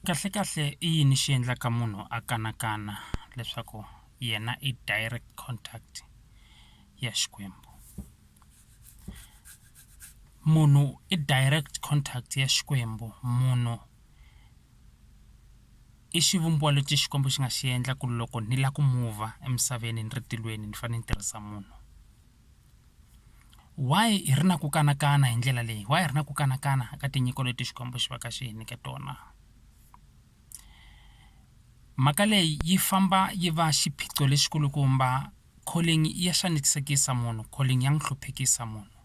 Kahlekahle i yini xi endlaka munhu a kanakana leswaku yena i direct contact ya Xikwembu? Munhu i direct contact ya Xikwembu munhu i xivumbiwa lexi Xikwembu xi nga xi endla ku loko ni lava ku move-a emisaveni ni ri tilweni ni fanele ni tirhisa munhu. Why hi ri na ku kanakana hi ndlela leyi why hi ri na ku kanakana ka tinyiko leti Xikwembu xi va ka xi hi nyike tona mhaka leyi yi famba yi va xiphiqo lexi kulukumba calling ya xanisekisa munhu calling ya n'wi hluphekisa munhu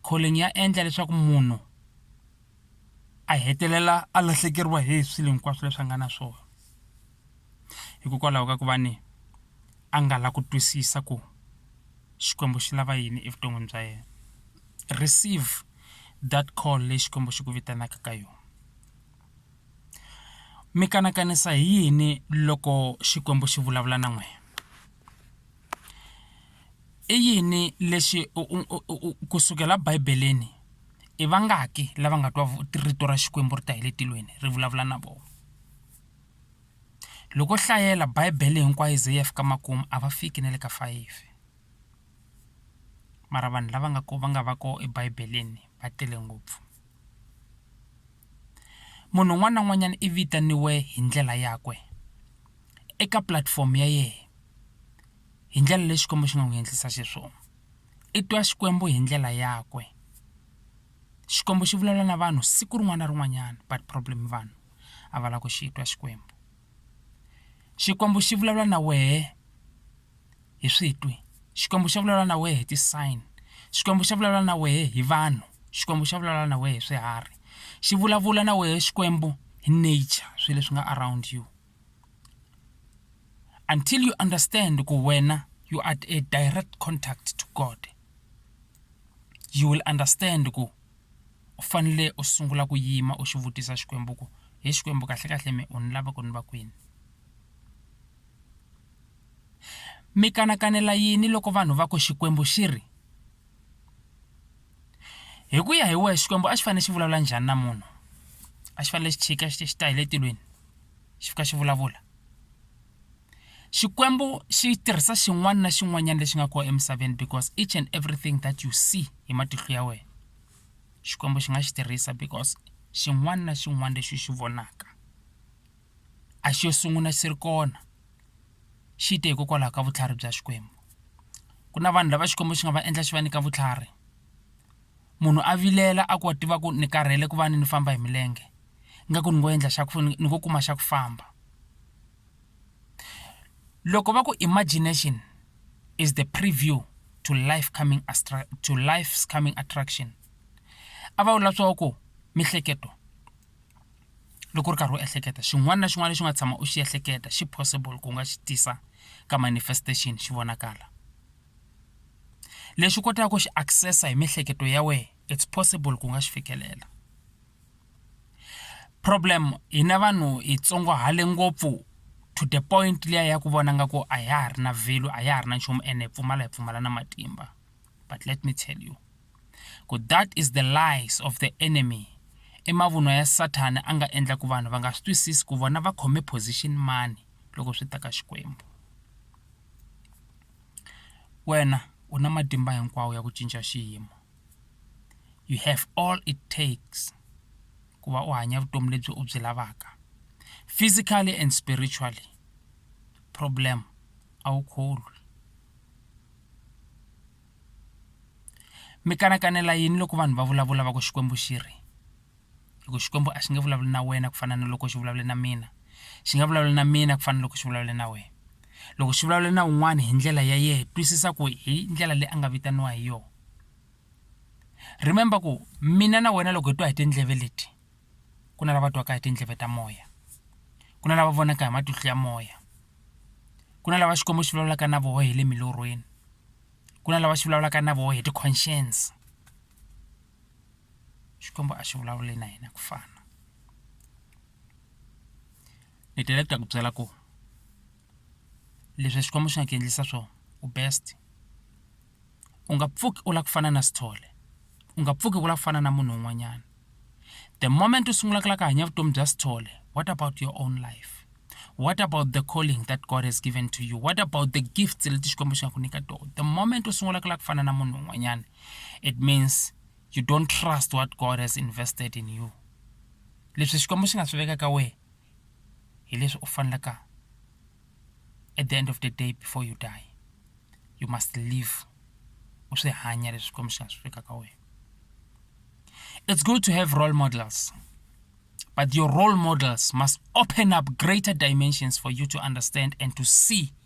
calling ya endla leswaku munhu a hetelela a lahlekeriwa hi swilo hinkwaswo leswi a nga na swona. hikokwalaho ka ku va ni a nga la ku twisisa ku Xikwembu xi lava yini evuton'wini bya yena receive that call leyi Xikwembu xi ku vitanaka ka yona mi kanakanisa hi yini loko Xikwembu xi vulavula na n'wina i yini lexi u u u u u ku sukela bibeleni i vangaki lava nga twa rito ra Xikwembu ri ta hi le tilweni ri vulavula na vona. Loko u hlayela Bibele hinkwayo yi ze yi ya fika makumu a va fiki na le ka fayifi mara vanhu lava nga ku va nga va kona eBibele-ni va tele ngopfu munhu un'wana na un'wanyana i vitaniwa hi ndlela yakwe eka pulatifomo ya yena hi ndlela leyi Xikwembu xi nga n'wi endlisa xiswona i twa Xikwembu hi ndlela yakwe Xikwembu xi vulavula na vanhu siku rin'wana na rin'wanyana but problem i vanhu. a va lava ku xi twa Xikwembu. Xikwembu xi vulavula na wehe hi switwi, Xikwembu xa vulavula na wehe hi ti-sign, Xikwembu xa vulavula na wehe hi vanhu, Xikwembu xa vulavula na wehe hi swiharhi, xi vulavula na wehe Xikwembu hi nature swilo leswi nga around you. Until you understand ku wena you are at a direct contact to God, you will understand ku. u fanele u sungula ku yima u xi vutisa Xikwembu ku he Xikwembu kahlekahle mehe u ni lava ku ni va kwini mi kanakanela yini loko vanhu va ku Xikwembu xi ri hi ku ya hi wehe Xikwembu a xi fanele xi vulavula njhani na munhu a xi fanele xi chika xi xi ta hi le tilweni xi fika xi vulavula Xikwembu xi tirhisa xin'wana na xin'wanyana lexi nga kona emisaveni because each and everything that you see hi matihlo ya wena. Xikwembu xi nga xi tirhisa because xin'wana na xin'wana lexi u xi vonaka a xo sungula xi ri kona xi te hikokwalaho ka vutlhari bya Xikwembu ku na vanhu lava Xikwembu xi nga va endla xi va nyika vutlhari munhu a vilela a ku a tiva ku ni karhele ku va ni ni famba hi milenge ingaku ni ngo endla xa ku ni ngo kuma xa ku famba. loko va ku imagination is the preview to life coming to life's coming attraction a va vula swa ku mihleketo loko u ri karhi u ehleketa xin'wana na xin'wana lexi nga tshama u xi ehleketa xi possible ku nga xi tisa ka manifestation xi vonakala lexi kotaka ku xi access hi miehleketo ya wena it's possible ku nga xi fikelela. problem hina vanhu hi tsongohale ngopfu to the point liya ya ku vona nga ku a ya ha ri na value a ya ha ri na nchumu ene hi pfumala hi pfumala na matimba but let me tell you ku that is the lies of the enemy i mavunwa ya sathana a nga endla ku vanhu va nga swi twisisi ku vona va khome position mani loko swi ta ka xikwembu wena u na matimba hinkwawo ya ku cinca xiyimo you have all it takes ku va u hanya vutomi lebyi u byi lavaka physically and spiritually problem a wu kholwi mi kanakanela yini loko vanhu va vulavula va ku xikwembu xi ri hi ku Xikwembu a xi nge vulavuli na wena ku fana na loko xi vulavule na mina xi nga vulavula na mina ku fana na loko xi vulavula na wena loko xi vulavula na un'wana hi ndlela ya yena twisisa ku hi ndlela leyi a nga vitaniwa hi yona remember ku mina na wena loko hi twa hi tindleve leti ku na lava twaka hi tindleve ta moya ku na lava vonaka hi matihlo ya moya ku na lava Xikwembu xi vulavulaka na vona hi le milorhweni ku na lava xi vulavulaka na vona hi ti-conscience. Xikwembu a xi vulavuli na hina ku fana ni tele ku ta ku byela ku leswi Xikwembu xi nga ku endlisa swona u best u nga pfuki u lava ku fana na Sithole u nga pfuki u lava ku fana na munhu un'wanyana the moment u sungula ku lava ku hanya vutomi bya Sithole what about your own life what about the calling that God has given to you what about the gifts leti Xikwembu xi nga ku nyika tona the moment u sungula ku lava ku fana na munhu un'wanyana it means you don't trust what god has invested in you leswi xikwembu xi nga swi veka ka wena hi leswi u fanelaka at the end of the day before you die you must live u swi hanya leswi xikwembu xi nga swi veka ka wena it's good to have role models but your role models must open up greater dimensions for you to understand and to see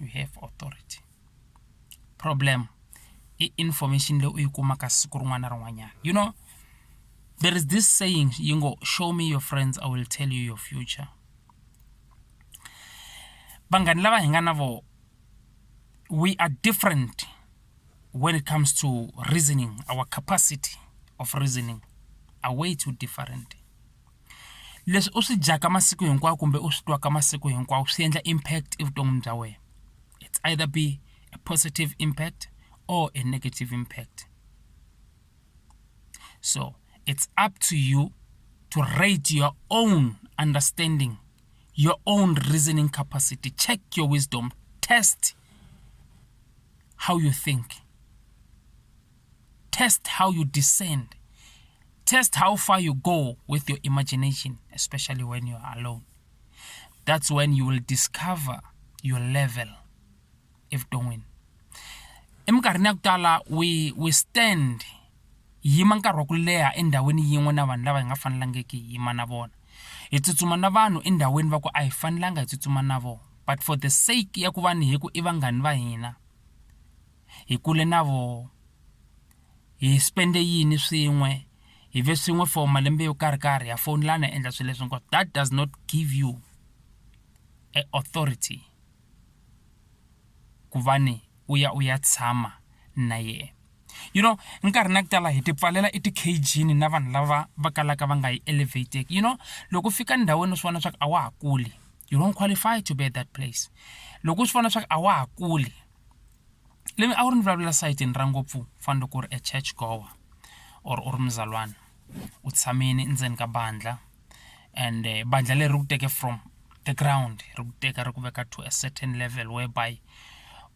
you have authority problem i information leyi u yi kumaka siku rin'wana na rin'wanyana you know there is this saying yi ngo show me your friends i will tell you your future vanghani lava hi nga na vona we are different when it comes to reasoning our capacity of reasoning are way too different leswi u swi dyaka masiku hinkwawo kumbe u swi twaka masiku hinkwawo swi endla impact evuton'wini bya wena it's either be a positive impact or a negative impact so it's up to you to rate your own understanding your own reasoning capacity check your wisdom test how you think test how you descend test how far you go with your imagination especially when you are alone that's when you will discover your level if doing eminkarhini ya ku tala we we stand yima nkarhi wa ku leha endhawini yin'we na vanhu lava hi nga fanelangiki hi yima na vona hi tsutsuma na vanhu endhawini va ku a hi fanelanga hi tsutsuma na vona but for the sake ya ku va ni hi ku i vanghani va hina hi kule na voho hi spende yini swin'we hi ve swin'we for malembe yo karhi karhi ha fowunelana hi endla swilo leswi hinkwaswo that does not give you a authority ku va ni u ya u ya tshama na yena you know nkarhi na ku tala hi ti pfalela i ti-cage-ni na vanhu lava va kalaka va nga yi elevateki you know loko u fika ndhawini u swi vona swa ku a wa ha kuli you don't qualify to be at that place loko u swi vona swa ku a wa ha kuli lemi a wu ri ni vulavula sayitini ra ngopfu u fana loko u ri a church goer or u ri muzalwana u tshamile endzeni ka bandlha and bandlha leri ri ku teke from the ground ri ku teka ri ku veka to a certain level where by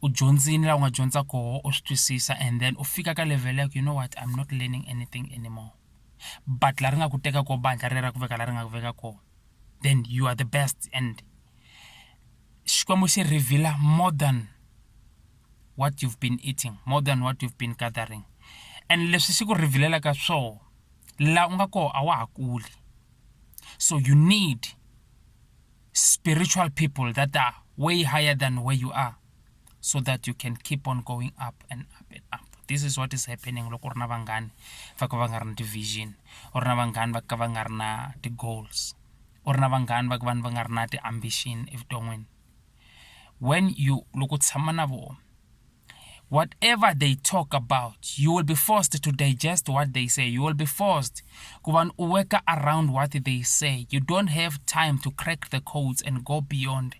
u dyondzile laha u nga dyondza koho u swi twisisa and then u fika ka level ya ku you know what I'm not learning anything anymore but laha ri nga ku teka koho bandlha rero ra ku veka laha ri nga ku veka kona. then you are the best and xikwembu xi revealer more than what you've been eating more than what you've been gathering and leswi xi ku revealelaka swona la u nga koho a wa ha kuli so you need spiritual people that are way higher than where you are so that you can keep on going up and up and up this is what is happening loko u ri na vanghani va ka va nga ri na ti-vision u ri na vanghani va ka va nga ri na ti-goals u ri na vanghani va ka vanhu va nga ri na ti-ambition evuton'wini when you loko u tshama na vona whatever they talk about you will be forced to digest what they say you will be forced ku va u worka around what they say you don't have time to crack the codes and go beyond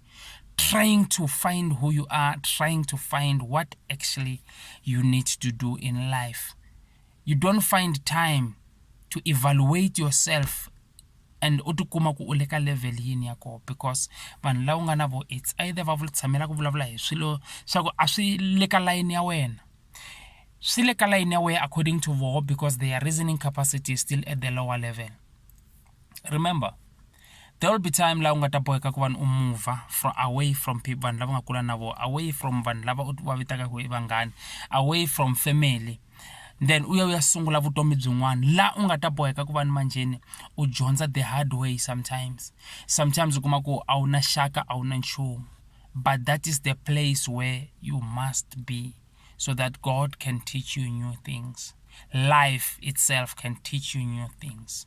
trying to find who you are, trying to find what actually you need to do in life. You don't find time to evaluate yourself and u tikuma ku u le ka level yini ya koho because vanhu lava u nga na vo it's either va vula tshamela ku vulavula hi swilo swa ku a swi le ka layini ya wena swi le ka layini ya wena according to voho because their reasoning capacity is still at the lower level remember there will be time laha u nga ta boheka ku vanhu u move from away from people vanhu lava nga kula na vona away from vanhu lava u va vitaka ku i vanghani away from family then u ya u ya sungula vutomi byin'wana laha u nga ta boheka ku va ni manjheni u dyondza the hard way sometimes sometimes u kuma ku a wu na xaka a wu na nchumu but that is the place where you must be so that god can teach you new things life itself can teach you new things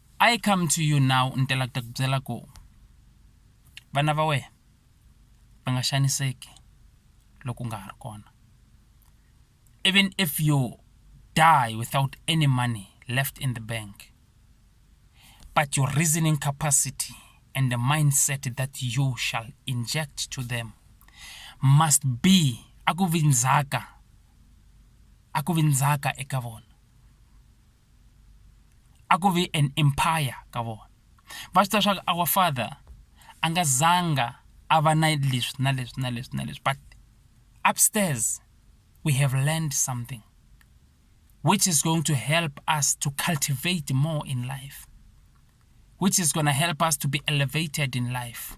I come to you now ni tela ku ta ku byela ku vana va wena va nga xaniseki loko u nga ha ri kona even if you die without any money left in the bank but your reasoning capacity and the mindset that you shall inject to them must be a ku vi ndzhaka a ku vi ndzhaka eka vona a ku vi an empire ka vona va swi tiva swa ku our father a nga zanga a va na leswi na leswi na leswi na leswi but upstairs we have learned something which is going to help us to cultivate more in life which is going to help us to be elevated in life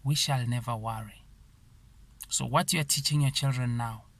we shall never worry so what you are teaching your children now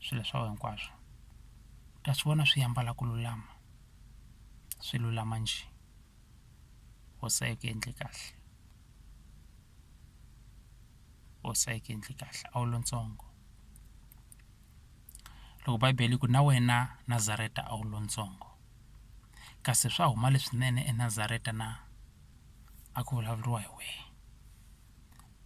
swilo swa wena hinkwaswo u ta swi vona swi ambala ku lulama swi lulama njhe hosi a yi ku endle kahle hosi a yi ku endle kahle a wu lontsongo loko bibele yi ku na wena Nazareta a wu lontsongo kasi swa huma leswinene eNazareta na a ku vulavuriwa hi wena.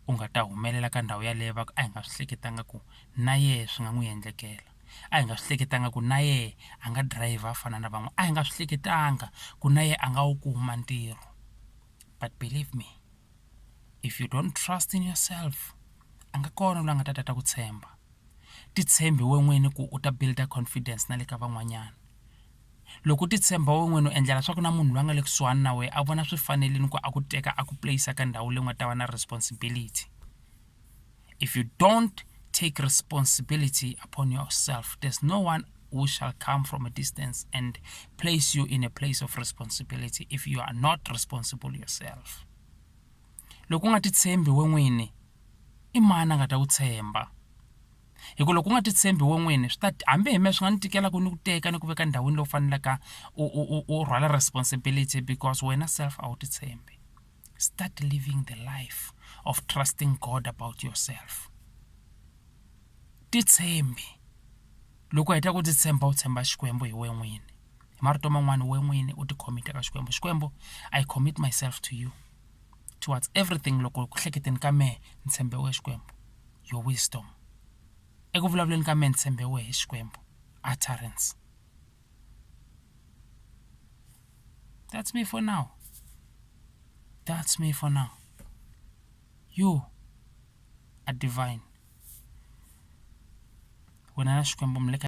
u nga ta humelela ka ndhawu yaleyo va ku a hi nga swi hleketanga ku na yena swi nga n'wi endlekela a hi nga swi hleketanga ku na yena a nga dirayivha a fana na van'wana a hi nga swi hleketanga ku na yena a nga wu kuma ntirho but believe me if you don't trust in yourself a nga kona loyi a nga ta ta ta ku tshemba titshembi wena n'wini ku u ta build-a confidence na le ka van'wanyana. loko u titshemba we n'wini u endlela swa ku na munhu loyi a nga le kusuhani na wena a vona swi fanerile ku a ku teka a ku place ka ndhawu leyi u nga ta va na responsibility if you don't take responsibility upon yourself there's no one who shall come from a distance and place you in a place of responsibility if you are not responsible yourself loko u nga titshembi we n'wini i mani a nga ta ku tshemba. hi ku loko u nga ti tshembi wena n'wini swi ta hambi hi mehe swi nga ni tikela ku ni ku teka ni ku veka endhawini leyi u faneleke u u u u rhwala responsibility because wena self a wu ti tshembi start living the life of trusting God about yourself ti tshembi loko u heta ku ti tshemba u tshemba Xikwembu hi wena n'wini hi marito man'wana wena n'wini u ti commit-a ka Xikwembu Xikwembu I commit myself to you towards everything loko ku hleketeni ka mehe ni tshembe wena Xikwembu. your wisdom. Eku vulavuleni ka mehe ni tshembe wehe Xikwembu, utterance. That's me for now. That's me for now. You are divine. Wena na Xikwembu mi le ka